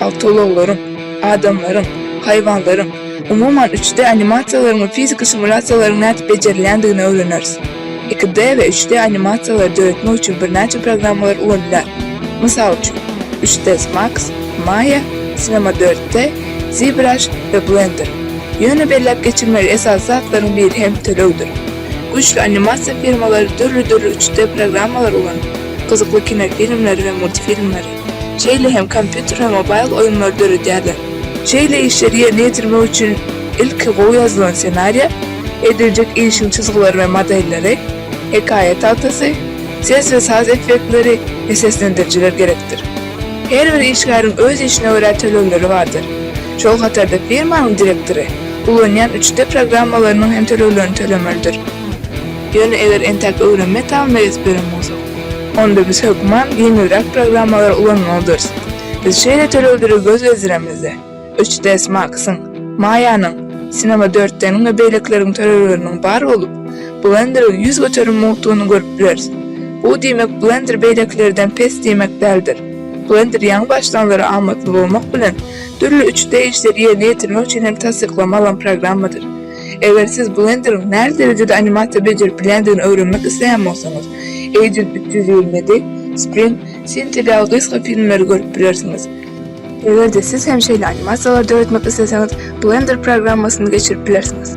awtoulaglaryň, adamlaryň, haýwanlaryň, umuman, üç-D animasiýalaryň we fiziki simulýasiýalaryň nädip bejerilýändigini öwreneris. Iki-D we üç-D animasiýalary döretmek üçin birnäçe programmalar ulanylýar. Mysal üçin, üç-ds Max, Maya, Cinema dört D, ZBrush we Blender. Ýöne belläp geçilmeli esasy zatlaryň biri hem tölegdir. Güýçli animasiýa firmalary dürli-dürli üç-D programmalary ulanyp, gyzykly kinofilmleri we multfilmleri, Şeýle hem kompýuter we mobaýl oýunlary döredýärler. Şeýle işleri ýerine ýetirmek üçin ilki gowy ýazylan ssenariýa, ediljek işiň çyzgylary we modelleri, hekaýa tagtasy, ses we saz effektleri we seslendirijiler gerekdir. Her bir işgäriň öz işine görä tölegleri bardyr. Şol hatarda firmanyň direktory ulanýan üç D programmalarynyň hem töleglerini tölemelidir. Ýöne eger entäk öwrenme etapynda ýetip ýören bolsa. Onda biz hökman ýeňilräk programmalary ulanmalydyrys. Biz şeýle tölegleri göz gezdiremizde, üç ds Max-yň, Maya-nyň, Cinema dört D-niň we beýlekileriň tölegleriniň bar bolup, Blender-iň ýüz göterim mugtuny görüp bileris. Bu diýmek Blender beýlekilerden pes diýmek däldir. Blender ýaňy başlanlara amatly bolmak bilen, dürli üç D işleri ýerine ýetirmek üçin hem tassyklama alan programmadyr. Eger siz Blenderiň nähili derejede animasiýa bejerip bilýändigini öwrenmek isleýän bolsaňyz, Agent üç ýüz ýigrimi ýedi, Sprint, Cintiq ýaly gysga filmleri görüp bilersiňiz. Eger-de siz hem şeýle animasiýalary döretmek isleseňiz, Blender programmasyny geçirip bilersiňiz.